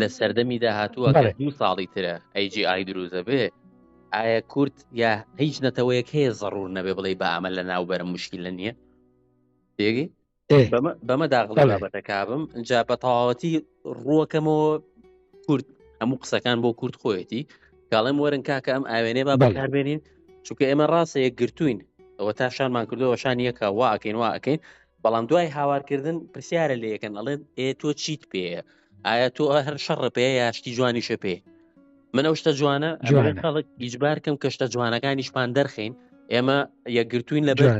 لە سەردەمی داهاتووە دوو ساڵی ترە ئەیجیI دروزە بێ ئایا کورد یا هیچ نەتەوەیەک هەیە زەڕور نەبێ بڵێ بە ئەمە لە ناوبەرە مشکی لە نییە دێگەی بەمە داغڵی بابەتەکبم جا بە تەواوەتی ڕووەکەمەوە کورد هەموو قسەکان بۆ کورد خۆیەتی گاڵێم وەرن کاکە ئەم ئاوێنێ با بەکاربێنین چونکە ئێمە ڕاستە یەک گرتوین ئەوە تا شانمان کردەوە شان یەکە واکەین واکەین بەڵام دوای هاوارکردن پرسیارە لە یەکەن ئەڵێن ئێ تۆ چیت پێەیە ئایا تۆ هەر شەڕە پێ یا شتی جوانیشە پێ من ئەو شتە جوانە خەڵک ئیجبار کەم کە شتە جوانەکانیشمان دەرخین ئێمە یەکگرتوین لە بەر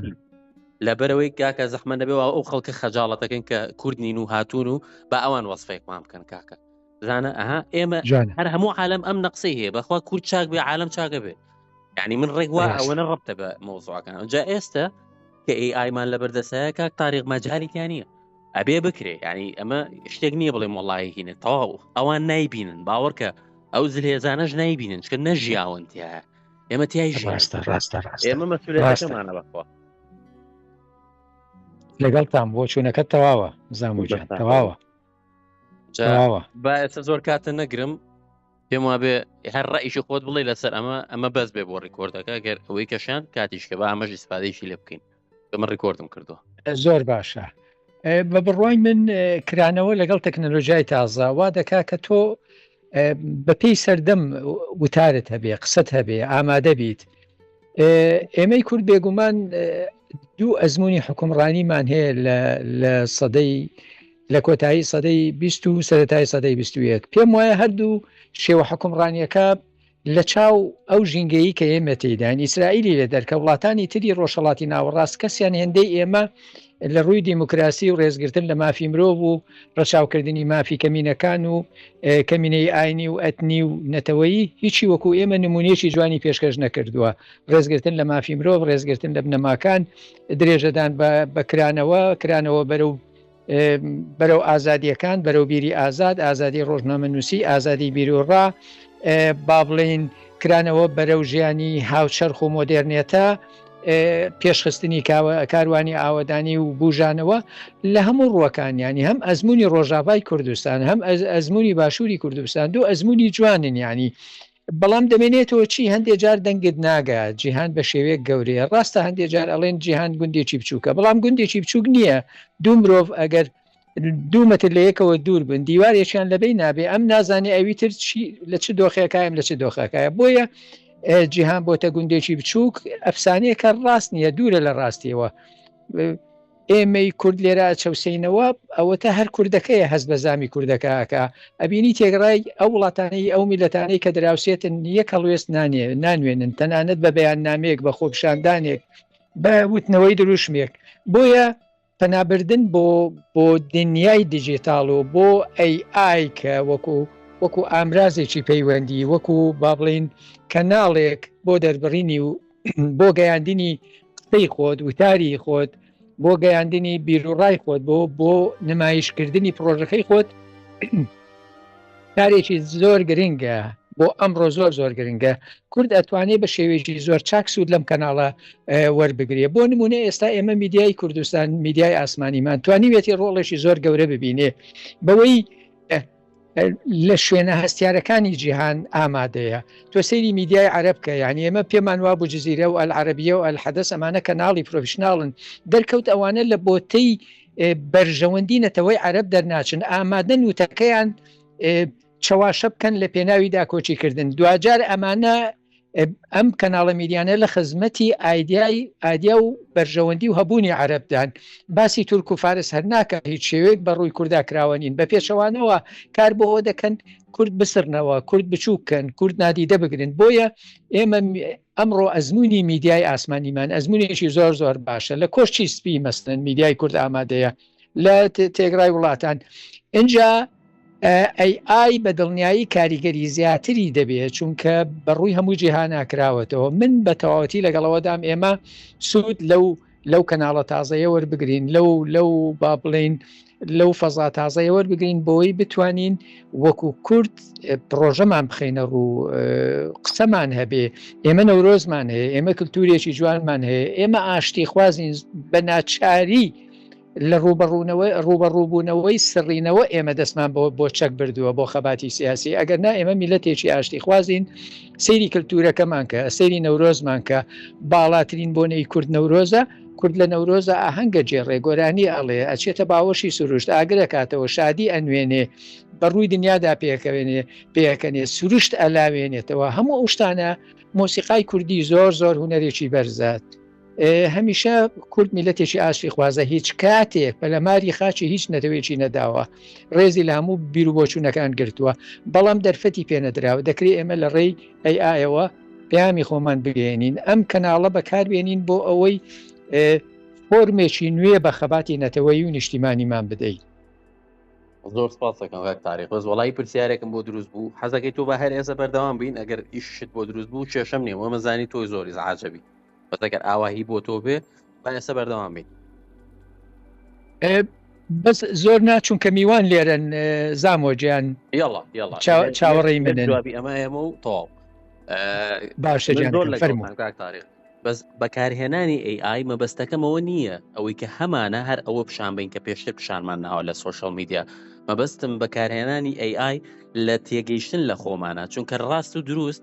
لەبەرەوەی کاکە زەحمە نەبێ ئەو خەڵکە خەجاڵەتەکەن کە کوردنین و هاتوون و بە ئەوان وەصفێکمان بکەن کاکە زانە ئەها ئێمە هەر هەموو عالم ئەم نەقسەی هەیە بەخوا کورد چاک بێ عالم چاکە بێ ینی من ڕێک وا ئەوەنە ڕبتە بە مۆزوعەکان جا ئێستا کە ئەی ئایمان لە بەردەسایە کاک تاریق مەجاریان نییە ئەبێ بکرێ ینی ئەمە شتێک نییە بڵێ مۆڵایهینە تەواو ئەوان نایبینن باوەڕکە ئەو زلێزانەش نایبینن چکە نەژیاون تیا ئێمە تای ڕاستە ڕاستە ئێمە مەسولێتەکەمانە بەخۆ لەگەڵتان بۆ چوونەکە تەواوە زاموجان تەواوە تەواوە با ئێستا زۆر کاتە نەگرم پێم وابێ هەر ڕئیشی خۆت بڵێ لەسەر ئەمە ئەمە بەس بێ بۆ ڕیکۆردەکە گەر ئەوەی کەشان کاتیشکە بە ئامەژ ئیسپادەیشی لێ بکەین من ڕیکۆردم کردو زۆر باشە بە بڕوای من کرانەوە لەگەڵ تەکنەلۆژیای تازە وا دەکا کە تۆ بە پێی سەردەم وتارت هەبێ قسەت هەبێ ئامادە بیت ئێمەی کورد بێگومان دوو ئەزمموی حکومڕانیمان هەیە لە سەدەی لە کۆتایی سەدەی 20 و سەتای سەدەی 21 پێم وایە هەردوو شێوە حکومڕانیەکە لە چاو ئەو ژینگەیی کە ئێمە تێیداین، ئیسرائیلی لە دەرکە وڵاتانی تری ڕۆژهەڵاتی ناوەڕاست کەسیان هێندەی ئێمە لە ڕووی دیموکراسی و ڕێزگرتن لە مافی مرۆڤ و ڕەچاوکردنی مافی کەمینەکان و کەمینەی ئاینی و ئەتنی و نەتەوەیی هیچی وەکو ئێمە نمونونێکی جوانی پێشکەش نەکردووە ڕێزگرتن لە مافی مرۆڤ ڕێزگرتن لە بنەماکان درێژەدان بە بەکرانەوە کرانەوە بەرە و بەرەو ئازادیەکان بەرەو بیری ئازاد ئازادی ڕۆژنامە نووسی ئازادی بیرۆڕا با بڵین کرانەوە بەرەو ژیانی هاوچەرخ و مۆدررنێتە پێشخستنی کاروانی ئاوەدانی و بژانەوە لە هەموو ڕوەکانیانی هەم ئەزمموی ڕۆژاڤای کوردستان هەم ئەزمموی باشووری کوردستان دوو ئەزمموی جوانن ینی بەڵام دەمێنێتەوە چی؟ هەندێ جار دەنگت ناگا جیهان بە شێوەیەک گەورەیە ڕاستە هەندێ جار ئەڵێن جیهان گوندێکی بچووکە بەڵام گوندێکی بچووک نییە دوو مرۆڤ ئەگەر دوومەتر لە یەکەوە دوور بن دیوارێکیان لەبەی نابێ ئەم نازانێ ئەوی تر لە چ دۆخەکەیم لە چ دۆخەکەە بۆیە جیهان بۆتە گوندێکی بچووک ئەفسانەیەکە ڕاست نییە دوورە لە ڕاستیەوە ئێمەی کورد لێرە ئەچەوسێینەوە ئەوەتە هەر کوردەکەیە هەست بە زامی کوردەکە ئەکا ئەبینی تێگەڕای ئەو وڵاتانەی ئەو میلەتانەی کە دراوسێتن یەک هەڵوێست نانێ نانوێنن تەنانەت بە بەیان نامێک بە خۆپشاندانێک بە وتنەوەی دروشمێک بۆیە پەنابردن بۆ بۆ دنیای دیجیتاڵ و بۆ ئەی ئای کە وەکو وەکو ئامرازێکی پەیوەندی وەکو با بڵین کەناڵێک بۆ دەربڕینی و بۆ گەیاندنی قسەی خۆت وتاری خۆت بۆ گەیاندنی بیرروڕای خۆت بۆ بۆ نمایشکردنی پرۆژەکەی خۆت کارێکی زۆر گرنگە بۆ ئەمڕۆ زۆر زۆر گرنگە کورد ئەتوانێت بە شێوێکی زۆر چاک سوود لەم کەناڵە وەربگرێ بۆ نمونە ئێستا ئێمە میدیای کوردستان میدیای ئاسمانیمان توانیوێتی ڕۆڵێکی زۆر گەورە ببینێ بەوەی لە شوێنە هەستیارەکانی جیهان ئامادەیە تۆ سەیری میدیای عربکە یعنی ئێمە پێمان وابوو جززیرە و ئەلعربیە و ئەلحەدەس ئەمانە کەناڵی پرۆفشنناڵن دەرکەوت ئەوانە لە بۆتەی بەرژەوەندی نەتەوەی عرب دەرناچن ئامادەن وتەکەیان چەواشە بکەن لە پێناوی داکۆچیکردن دوجار ئەمانە ئەم کەناڵە میدیانە لە خزمەتی ئایدیای ئادیا و بەرژەوەندی و هەبوونی عربدان باسی تورک و فارس هەر ناکە هیچ شێوێک بە ڕووی کووردا کراوە نین بە پێچەوانەوە کار بۆەوە دەکەن کورد بسرنەوە کورد بچووکەن کورد نادیدە بگرن بۆیە ئێمە ئەمڕۆ ئەزمموی میدیای ئاسمانیمان ئەزمونێکی زۆر زۆر باشە لە کۆشتی سپی مەستن میدیای کورد ئامادەیە لە تێگرای وڵاتان ئینجا AI بە دڵنیایی کاریگەری زیاتری دەبێت چونکە بەڕووی هەموو جیهاناکراوەتەوە من بە تەواوەتی لەگەڵەوەدام ئێمە سوود لەو لەو کەناڵە تازەیە وەربگرین لەو لەو با بڵین لەو فەزا تازەیە وەربگرین بۆی بتوانین وەکو کورد پرۆژەمان بخینە ڕوو قسەمان هەبێ ئێمە نەورۆزمان هەیە ئێمە کللتورێکی جوانمان هەیە ئێمە ئاشتی خوازین بە ناچاری لە ڕوبەڕوونەوەی ڕوبەڕووبوونەوەی سڕینەوە ئێمە دەستمان بۆ بۆ چەک بردووە بۆ خەباتی سیاسی ئەگەر نا ئێمە میلەتێکی ئاشتی خوازین سەیری کللتورەکەمان کە سەیری نەورۆزمان کە باڵاترین بۆنەی کورد نەورۆزە کورد لە نەورۆزە ئاهەنگە جێ ڕێگۆرانی ئەڵێ ئەچێتە باوەشی سروشت ئاگرەکاتەوە شادی ئەنوێنێ بەڕووی دنیادا پێکەوێنێ پێکەنێ سروشت ئەلاوێنێتەوە هەموو ئەو شتانە مۆسیقای کوردی زۆر زۆر هوەرێکی بەرزات هەمیشە کورد میلەتێکی ئاشتی خوازە هیچ کاتێک پەلەماری خاچی هیچ نەتەوێکی نەداوە ڕێزی لە هەموو بیرروبۆچوونەکان گرتووە بەڵام دەرفەتی پێنەدراوە دەکرێت ئێمە لە ڕێی ئەی ئایەوە پامی خۆمان بگەێنین ئەم کەناڵە بەکاربێنین بۆ ئەوەی فۆرمێکی نوێ بە خەباتی نەتەوەی و نیشتیمانیمان بدەیت زۆر سپاسەکەم کاک تاریخ بەس وڵی پرسیارێکم بۆ دروست بوو حەزەکەی تۆ بە هەر ئێسە بەردەوام بین ئەگەر ئیشت بۆ دروست بوو کێشم نیە وەمەزانی تۆی زۆری زعاجەبی بەس ئەگەر ئاوا هی بۆ تۆ بێ با ئێستا بەردەوام بین بەس زۆر ناچوون کە میوان لێرەن زامۆجیان یاڵا یاڵا چاوەڕێی من جوابی ئەمە ئێمە و تەواو باشە زۆر لە فەرموان تاریخ بەس بەکارهێنانی AI مەبەستەکەمەوە نییە ئەوەی کە هەمانە هەر ئەوە پیشان بین کە پێشتر پیشانمان ناوە لە سوۆشل میدیا مەبەستم بەکارهێنانی AI لە تێگەیشتن لە خۆمانە چونکە ڕاست و دروست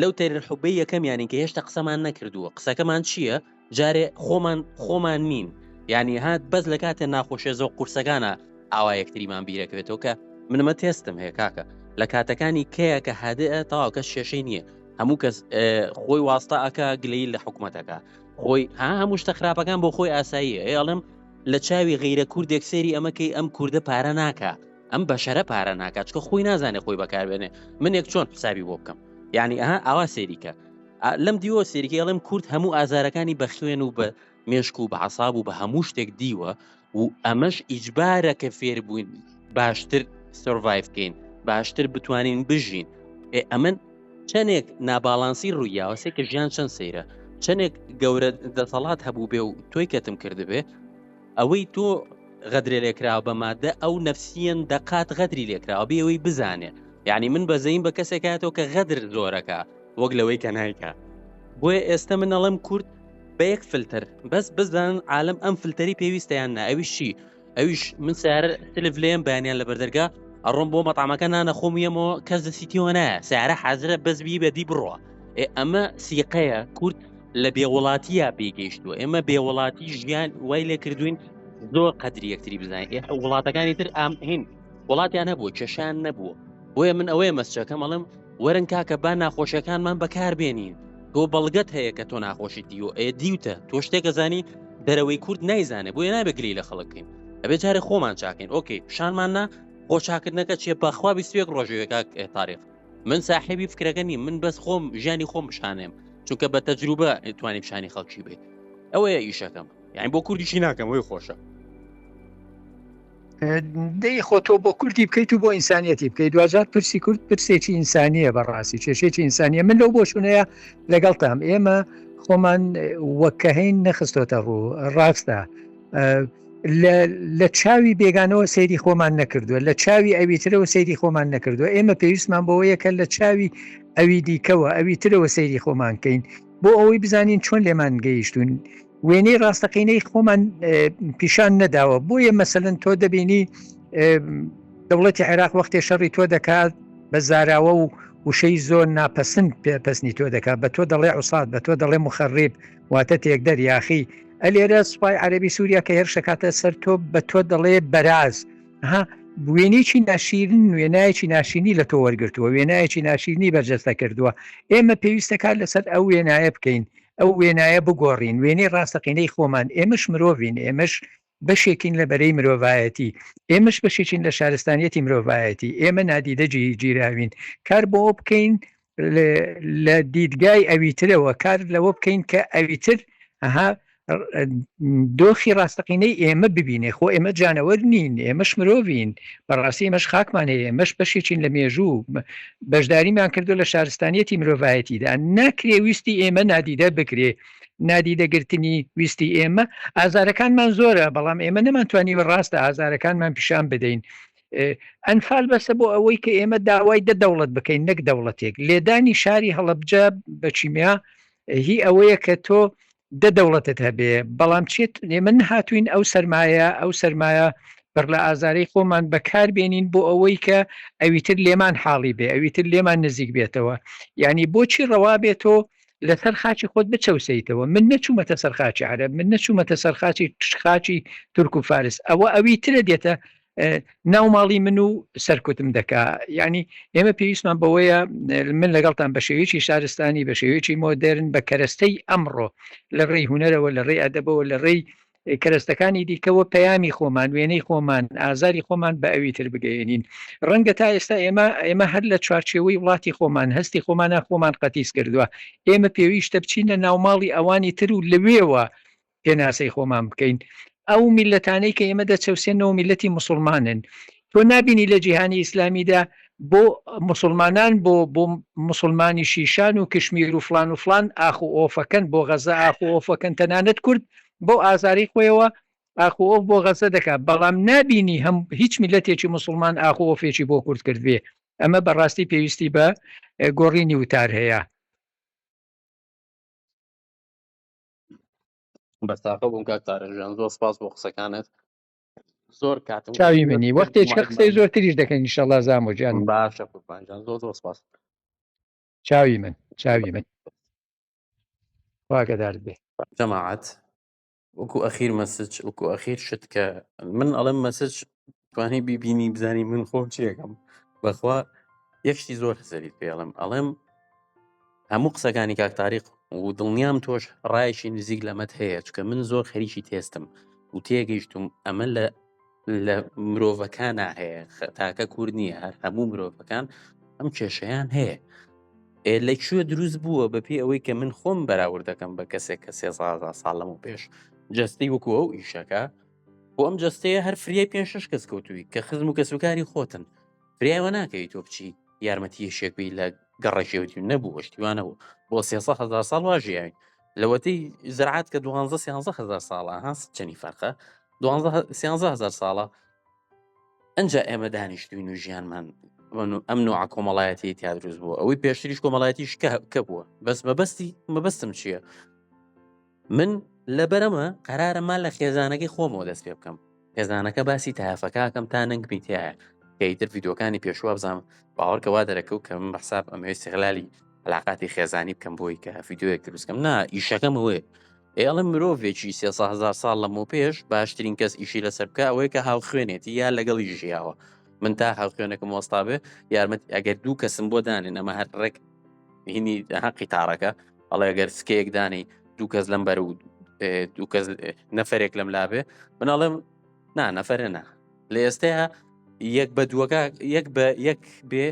لەو تەرر حوبەی یەکەمیانین کە هێشتا قسەمان نەکردووە قسەکەمان چییە جارێ خۆمان خۆمان نین یعنی هات بەس لە کاتێ ناخۆشێ زۆ قورسەکانە ئاوا یەکتریمان بیرەکەوێتەوە کە منمە تێستم هەیە کاکە لە کاتەکانی کەیە کە هادئ تاواکە شێشەی نییە هەموو کەس خۆی واستە ئەکا گلەی لە حکوومەتەکە خۆی ها هەموو شتە خراپەکان بۆ خۆی ئاسایی ئەڵم لە چاوی غیرە کوردێک سێری ئەمەکەی ئەم کووردە پارە ناکە ئەم بەشەرە پارە ناکات چکە خۆی نازانێت خۆی بەکاربێنێ منێک چۆن حسابی بۆ بکەم یعنی ئەها ئاوا سێریکە لەم دیوە سێریکی ئەڵێم کورد هەموو ئازارەکانی بە خوێن و بە مێشک و بە عساب و بە هەموو شتێک دیوە و ئەمەش ئیجبارە کە فێر بووین باشتر سرڤایف بکەین باشتر بتوانین بژین ئێ ئەمن چەندێک ناباڵانسی ڕوویاوەسێک کە ژیان چەند سەیرە چەندێک گەورە دەسەڵات هەبوو بێ و تۆی کەتم کردبێ ئەوەی تۆ غەدرێ لێکراوە بە مادە ئەو نەفسیەن دەقات غەدری لێکراوە بێەوەی بزانێ یعنی من بەزەین بە کەسێکاتەوە کە غەدر زۆرەکە وەک لەوەی کە نایکە بۆیە ئێستا من ئەڵم کورد بە یەک فلتەر بەس بزان عالم ئەم فلتەری پێویستیان نا ئەویشی ئەویش من سارە تلف لێم بەیانیان لە بەردەرگا ئەڕۆم بۆ مەتامەکە نانەخۆم یەمەوە کەس دەسیتیەوە نایە سارە حازرە بەس بی بەدی بڕە ئەمە سیقەیە کورد لە بێ وڵاتیە پێی گەیشتووە ئێمە بێ وڵاتی ژیان وای لێ کردوین زۆر قەدری یەکتری بزانین ئێ وڵاتەکانی تر ئام هین وڵاتیان هەبووە کێشان نەبووە بۆیە من ئەوەیە مەسچەکەم ئەڵم وەرن کاکە با ناخۆشیەکانمان بەکار بێنین تۆ بەڵگەت هەیە کە تۆ ناخۆشی دیوە ئێ دیوتە تۆ شتێکە زانی دەرەوەی کورد نایزانێ بۆیە نابێ گلی لە خەڵکین ئەبێ جارێ خۆمان چاکەین ئۆکەی پیشانمان نا خۆ چاکردنەکە چێ بەخوا بیستێک ڕۆژێکاک تاریخ من ساحێبی فکرەکە نیم من بەس خۆم ژیانی خۆم بشانێم چونکە بە تەجروبە توانیم شانی خەڵکی بێت ئەوەیە ئیشەکەم یعنی بۆ کوردیشی ناکەم هۆی خۆشە دەی خۆ تۆ بۆ کوردی بکەیت و بۆ ئینسانیەتی بکەیت دوجار پرسی کورد پرسێکی ئینسانیە بەڕاستی کێشێکی ئینسانیە من لەو بۆشونەیە لەگەڵ تام ئێمە خۆمان وەکەهین نەخستۆتە ڕوو ڕاستە لە چاوی بێگانەوە سەیری خۆمان نەکردووە لە چاوی ئەویترەوە سەیری خۆمان نەکردووە ئێمە پێویستمان بۆ یەکە لە چاوی ئەوی دیکەوە ئەوی ترەوە سەیری خۆمان کەین بۆ ئەوەی بزانین چۆن لێمان گەیشتون وێنەی ڕاستەقینەی خۆمان پیشان نەداوە بۆیە مەسەن تۆ دەبینی دەوڵەتی عێراق وەختێ شەڕی تۆ دەکات بە زاراوە و وشەی زۆر ناپەسند پێپەسنی تۆ دەکات بە تۆ دەڵێ عوسات بە تۆ دەڵێ مخڕیب واتە تێکدەر یاخی ئەلێرە سوپای عەربی سووریا کە هێرش دەکاتە سەر تۆ بە تۆ دەڵێ بەراز ها وێنێکی ناشیرن وێنایەکی ناشینی لە تۆ وەرگتووە وێنایەکی ناشیرنی بەرجەستە کردووە ئێمە پێویستەکان لەسەر ئەو وێنایە بکەین ئەو وێنایە بگۆڕین وێنەی ڕاستەقینەی خۆمان ئێمەش مرۆڤین ئێمەش بەشێکین لە بەرەی مرۆڤایەتی، ئێمەش بەشێکین لە شارستانیەتی مرۆڤایەتی، ئێمە نادیدە گیراوین، کار بۆ ئەوە بکەین لە دیدگای ئەویترەوە کار لەوە بکەین کە ئەویتر ئەها دۆخی ڕاستەقینەی ئێمە ببینێ خۆ ئێمە جانەوەر نین ئێمەش مرۆڤین بەڕاستی مەش خاکمان هەیە مەش بەشێکین لە مێژوو بەشداریمان کردو لە شارستانیەتی مرۆڤایەتیدا ناکرێ ویستی ئێمە نادیدە بکرێ نادیدە گرتنی ویستی ئێمە ئازارەکانمان زۆرە بەڵام ئێمە نەمانتوانیوە ڕاستە ئازارەکانمان پیشان بدەین ئەنفال بەسە بۆ ئەوەی کە ئێمە داوای دە دەوڵەت بکەین نەک دەوڵەتێک لێدانی شاری هەڵبجە بە چیمیا هی ئەوەیە کە تۆ دە دەوڵەتت هەبێ بەڵام چێت ئێمە نەهاتوین ئەو سرمایە ئەو سرمایە بڕ لە ئازارەی خۆمان بەکار بێنین بۆ ئەوەی کە ئەویتر لێمان حاڵی بێ ئەویتر لێمان نزیک بێتەوە یعنی بۆچی ڕەوا بێتۆ لەسەر خاچی خۆت بچەوسێیتەوە من نەچوومەتە سەر خاچی عرب من نەچوومەتە سەر خاچی خاچی تورک و فارس ئەوە ئەوی ترە دێتە ناو ماڵی من و سەرکوتم دەکا ینی ئێمە پێویستمان بەوەیە من لەگەڵتان بە شێوێکی شارستانی بە شێوێکی مۆدررن بە کەرەستەی ئەمڕۆ لە ڕێی هوەرەوە لە ڕێی ئەدەبەوە لە ڕێی کەرەستەکانی دیکە و پەیامی خۆمان وێنەی خۆمان ئازاری خۆمان بە ئەوی تر بگەێنین ڕەنگە تا ئێستا ئێمە ئێمە هەر لە چوارچێوەی وڵاتی خۆمان هەستی خۆمانە خۆمان قەتیس کردووە ئێمە پێویستە بچینە ناوماڵی ئەوانی تر و لەوێوە پێناسەی خۆمان بکەین ئەو میلەتانەی کە ئێمە دەچەوسێنەوە میلەتی مسلمانن تۆ نابینی لە جیهانی ئیسلامیدا بۆ مسلمانان بۆ بۆ مسلمانی شیشان و کشمیر و فلان و فلان ئاخ و ئۆفەکەن بۆ غەزە ئاخ و ئۆفەکەن تەنانەت کورد بۆ ئازاری خۆیەوە ئاخ و ئۆف بۆ غەزە دەکات بەڵام نابینی هەم هیچ میلەتێکی مسلمان ئاخ و ئۆفێکی بۆ کورد کردێ ئەمە بەڕاستی پێویستی بە گۆڕینی وتار هەیە بەستاقە بووم کاک تارەژیان زۆر سپاس بۆ قسەکانت زۆر کاتم چاوی منی وەختێک قسەی زۆرتریش دەکەن نیشەڵا زامۆ جان باشە قوربان جان زۆر زۆر سپاس چاوی من چاوی من واگەدار بێ جەماعات وەکو ئەخیر مەسج وەکو ئەخیر شت کە من ئەڵم مەسج توانی بیبینی بزانی من خۆم چیەکەم بەخوا یەکشتی زۆر هەزەری پێڵم ئەڵم هەموو قسەکانی کاک تاریق و دڵنیام تۆش ڕایشی نزیک لەمەت هەیە چکە من زۆر خەریکی تێستم و تێگەیشتم ئەمە لە لە مرۆڤەکانە هەیە تاکە کورد نییە هەر هەموو مرۆڤەکان ئەم کێشەیان هەیە ئێ لە کوێ دروست بووە بەپی ئەوەی کە من خۆم بەراورد دەکەم بە کەسێک کە سێزازا ساڵم و پێش جستی وەکو ئەو ئیشەکە بۆ ئەم جستەیە هەر فریای پێ شش کەس کەوتووی کە خزم و کەسوکاری خۆتن فریایوە ناکەی تۆ بچی یارمەتیەشێکبی لە گەڕەکێوتی و نەبوو وەشتیوان نەبوو بۆ سێسە هزار ساڵ وا ژیاوین لەوەتی زرعات کە دوانزە سیانزە هزار ساڵە هەست چەنی فەرقە سیانزە هزار ساڵە ئەجا ئێمە دانیشتوین و ژیانمان ئەم نوع کۆمەڵایەتی تیا دروست بووە ئەوەی پێشتریش کۆمەڵایەتیش کە بووە بەس مەبەستی مەبەستم چییە؟ من لەبەر ئەمە قەرارە مال لە خێزانەکەی خۆمەوە دەست پێ بکەم خێزانەکە باسی تایافەکەکەم تا نەنگ بیتایە کەیتر یددیوکانی پێشوە بزانم باوەڕکەوا دەرەکەوت کە من بەحساب ئەمەوێ سیغلالی علااقاتی خێزانی بکەم بۆی کە یددیوەک دروستکەم نا ئیشەکەم وێ ئێڵم مرۆڤێکی سێهزار ساڵ لەمە پێش باشترین کەس ئیشی لەسەر بکە ئەوەیە کە هاو خوێنێتی یا لەگەڵی ژیاوە من تا هاو خوێنەکەم وەستاێ یارمەت ئەگەر دوو کەسم بۆ دانێن ئەمە هەر ڕێک هینی هەقی تاڕەکە ئەڵێ گەر سکەیەک دانی دوو کەس لەم بەر و دوو کەس نەفرێک لەم لابێ مناڵم نا نەفرە نا لە ئێستەیە یەک بە دووەکە یەک بە یەک بێ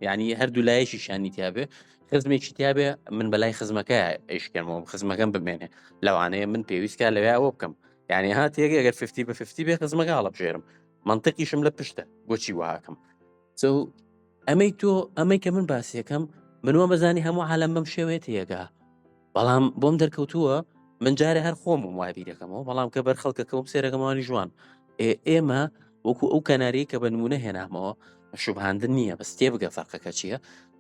ینی هەردوو لایەکی شانی تیاابێ خزمێکی تیاابێ من بەلای خزمەکە ئەیشکەمەوە خزمەکەم بمێنێ لەوانەیە من پێویستکە لەوێ ئەوە بکەم یعنی هاات یەک ئەگەر 50 بە 50 بێ خزمەکە هەڵبژێرم منطقیشم لە پشتە بۆچی وهاکەم ئەمەی تۆ ئەمەی کە من باسیەکەم منوە بەزانی هەموو عالم بەم شێوێت یەگا بەڵام بۆم دەرکەوتووە من جارێ هەر خۆم وابیرەکەمەوە بەڵام کە بەر خەڵکەکەم سێرەکەمانی جوان ئێمە وەکو ئەو کەناری کە بە نمونە هێنامەوە شوبهاندن نییە بەس تێ بگە فەرقەکە چییە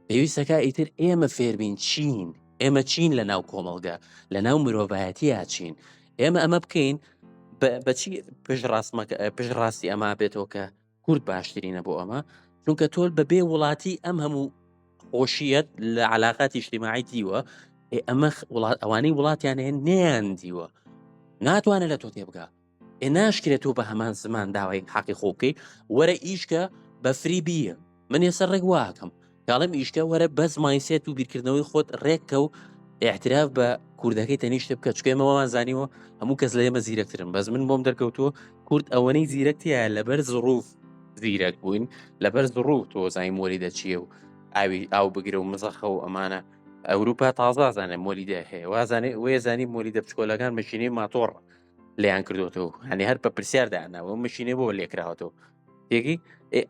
پێویستەکە ئیتر ئێمە فێربین چین ئێمە چین لە ناو کۆمەڵگە لە ناو مرۆڤایەتیە چین ئێمە ئەمە بکەین بەچی پێش ڕاستمەکە پێش ڕاستی ئەما بێتەوە کە کورد باشترینە بۆ ئەمە چونکە تۆل بە بێ وڵاتی ئەم هەموو خۆشیەت لە علااقاتی شتیماعی دیوە ئەمە وڵات ئەوانەی وڵاتیان هێن نیان دیوە ناتوانێت لە تۆ تێبگا ئێ ناشکرێت تۆ بە هەمان زمان داوای حەقی خۆ بکەیت وەرە ئیشکە بە فری بیە من ێسەر ڕێک واکەم کاڵم ئیشکە وەرە بەس مایسێت و بیرکردنەوەی خۆت ڕێککە و احتراف بە کوردەکەی تەنیشتە بکە چکێمەوەمان زانیوە هەموو کەس لە ئێمە زیرەکترن بەس من بۆم دەرکەوتووە کورد ئەوەنەی زیرەکتیە لەبەر زڕوف زیرەک بووین لەبەر زڕوو تۆزای مۆری دەچیە و ئاوی ئاو بگرە و مزەخە و ئەمانە ئەوروپا تازازانێ مۆلیدە هەیە وازانێ وێزانی مۆلیدە بچکۆلەکان مەشینەی ماتۆڕ لیان کردوەوە هەنێ هەر بە پرسیاردانەوە مشینێ بۆ لێکراوەەوە یەکی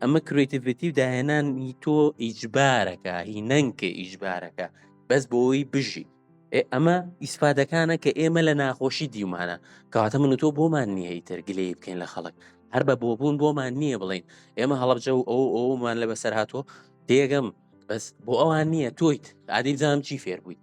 ئەمە کرێتیڤێتی و داهێنانی تۆ ئیجبارەکە هی نەنکە ئیجبارەکە بەس بۆی بژی ئەمە ئیسفادەکانە کە ئێمە لە ناخۆشی دیومانە کەواتە من تۆ بۆمان نییە ئیتر گلەی بکەین لە خەڵک هەر بە بۆبوون بۆمان نییە بڵین ئێمە هەڵبجە و ئەو ئەومان لە بەسەر هاتووە دێگەم بەس بۆ ئەوان نییە تۆیت عادی بزانام چی فێر بوویت